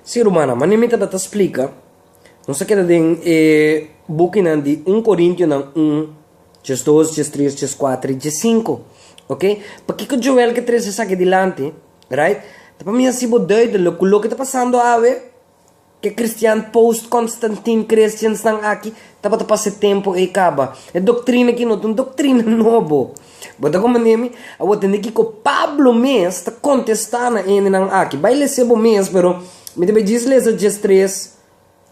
Sí, rumannan, manera mi tabata splika, nos a keda den e bukinan di un Corintionan un, Djes dos, Djes tres, Djes kuater i Djes sinku, ok? Pakiko Joel ke trese esaki dilanti, rait? Ta pa mi hasi bo duidelik ku loke ta pasando awe. Ke kristian post-Konstantin Christiansnan aki tabata pa se tempu ei kaba? E doktrina aki no ta un doktrina nobo. Bo ta komprendé mi? Awor a tende kiko Pablo mes ta kontestá na hendenan aki. Bai lese bo mes, pero mi ta bai djis lesa djes tres,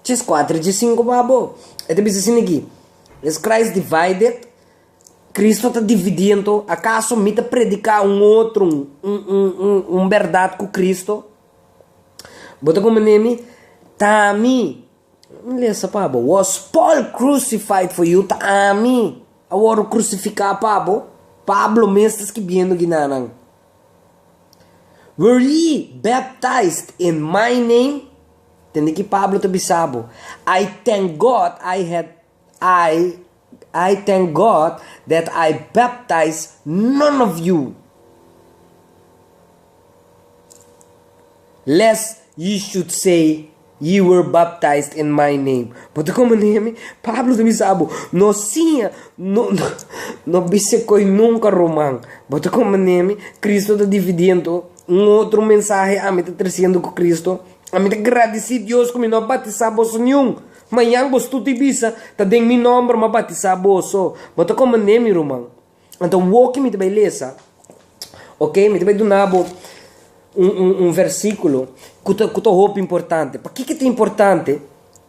djes kuater i djes sinku pa bo. E ta bisa asin aki, Is Christ divided? Kristu ta dividí anto? Akaso mi ta prediká un otro un bèrdat ku Kristu? Bo ta como nemi? Ta ami! Mi lesa pa bo, was Paul crucified for you? Ta ami a wòrdu krusifiká pa bo? Pablo mes ta skibiendo ginanan. Were ye baptized in my name? Tende ki Pablo ta bisa bo, I thank God I had. I I thank God that I baptize none of you lest ye should say ye were baptized in my name. Bo ta comprende mi? Pablo ta bisa abo, No siña, no no bisa koe nunka Roman. Bo ta comprende mi? Cristo ta dividiendo un otro mensahe, ami ta treciendo cu Cristo. Ami ta gradici Dios cu mi no a batisa boso niun. Mañan bos tur di bisa, Ta den mi nòmber mi a batisá boso. Bo ta komand'é mi ruman. Anto, woki mi ta bai lesa, oke? Mi ta bai duna bo un un un versíkulo ku ta ku ta hopi importante. Pakiko ta importante?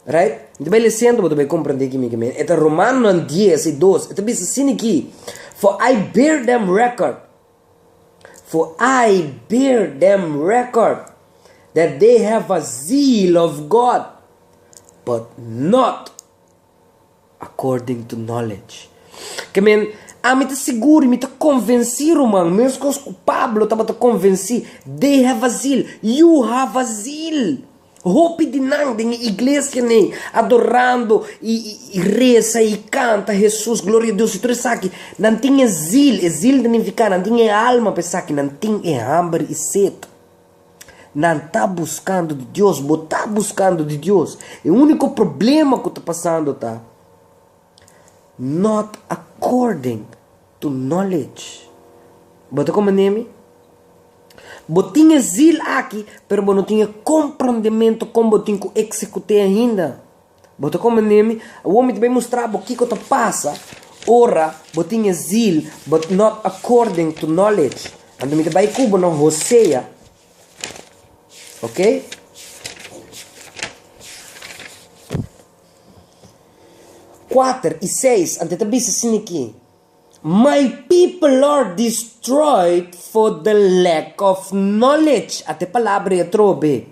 Right? Mi ta bai les'é anto bo ta bai komprendé kimi ke mi e ta. Romannan dies i dos, e ta bisa sin ikí, For I bear them record. For I bear dem record that they have a zeal of God, but not according to knowledge. Ke men, ami ta sigur i mi ta konvensí, ruman, meskos ku Pablo tabata konvensí, they have a zeal, yu hava zeal. Hopi di nan den e iglesia nei adorando i resa i kanta Hesus gloria a Dios i tur esaki nan tin e zil e zil ta nifica nan tin e alma pa esaki nan tin e hamber i set nan ta buscando di Dios bo ta buscando di Dios e unico problema cu ta pasando ta not according Tu knowledge. Bo ta como Nehemi? Bo tin e zil aki, pero bo no tin e comprendemento con bo tin cu execut'e ainda. Bo ta como Nehemi? Awor mi ta bay mustra bo kico ta pasa ora bo tin e zil, but not according to knowledge. Anto mi ta bay cu bo na Hosea, ok. Kuater i seis, anto e ta bisa sin i ki, My people are destroyed for the lack of knowledge. At e palabra i atrobe.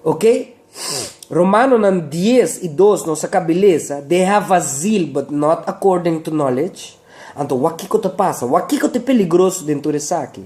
Ok? Romanonan dies i dos nos a kaba i lesa, They have a zeal, but not according to knowledge. Anto, wak kiko ta pasa, wak kiko ta e peligroso den tur esaki.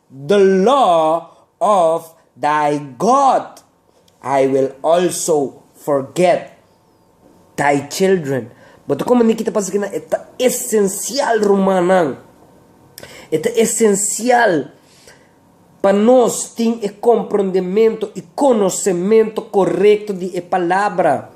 the law of thy God, I will also forget thy children. Bo ta komo Nikita pasa kinan e ta esencial rumannan e ta esencial pa nos tin e comprondementu y conocementu corecto di e palabra.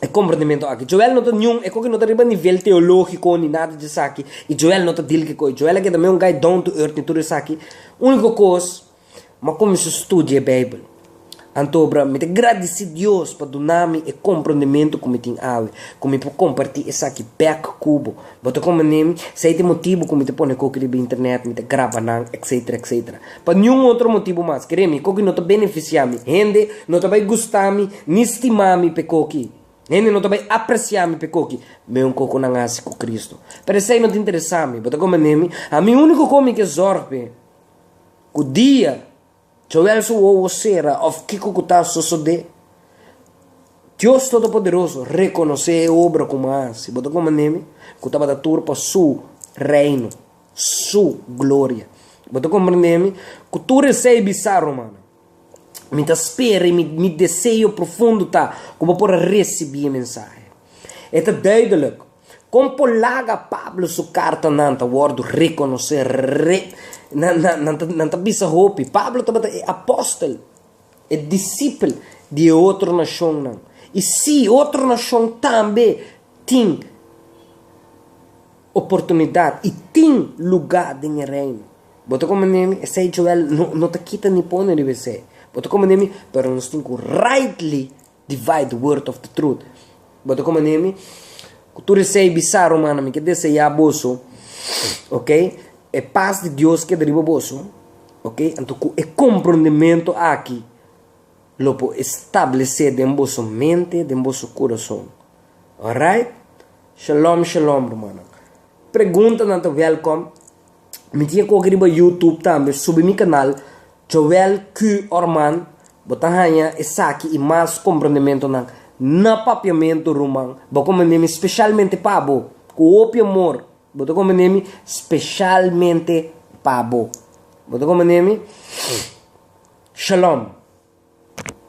e komprendementu aki. Joel no ta niun, e koki no ta riba nivel teologiko ni nada di esaki, i Joel no ta dil kiko i. Joel a keda me un gai down to earth ni tur esaki. Uniko kos, m'a kuminsó studia e Beibel. Anto obra mi ta gradisí Dios pa dunami e komprendementu ku mi tin awe, ku mi por kompartí esaki bèk ku bo. Bo ta como Nim, si ey ta e motibu cu mi ta pone coki riba internet, mi ta graba nan, etc. Etc. Pa niun otro motibu mas. Cree mi, coki no ta beneficia mi. Hende no ta bay gusta mi ni stima mi p'e coki. Hende no ta bay aprecia mi p'e coki. Meun coki cu nan haci cu Cristo. Pero esey no ta interesa mi. Bo ta como Nim, ami unico comi ke zorg p'e cu dia Joel su wowo sera of kiko ku ta sosodé? Dios Todopoderoso rekonosé e obra ku mi a hasi. Bo ta komand'é mi ku tabata tur pa Su Reino, Su gloria. Bo ta komprendé mi ku tur esei bisa rumannan. Mi ta spera i mi deseo profundo ta ku bo por a risibí e mensahe. E ta duidelik! Kon por laga Pablo su kartanan ta wòrdu rekonosé? Re. Nan, nan, nan ta, nan ta bisa hopi. Pablo tabata e apòstel, e disipel di e otro nashonnan. I sí, otro nashon tambe tin oportunidat i tin lugá den e Reino. Bo ta komprende mi? Esei Joel no, no ta kita ni pone riba esei. Bo ta komprende mi? Pero nos tin ku raitly Divide the word of the truth. Bo ta como nemi cu tur esey bisa romana mi ke deseya boso ok e paz di Dios keda riba boso ok anto cu e comprondemento aki lo por establece den boso mente den boso corazon alright shalom shalom romannan preguntanan ta welcom. Mi tin e koki riba YouTube tambe. Subi mi kanal Joel Q. Orman. Bo ta haña esaki i mas komprendementunan na Papiamentu, ruman. Bo komprendé mi speshalmente pa bo, ku hopi amor. Bo ta komprendé mi speshalmente pa bo. Bo ta komprendé mi. Shalom.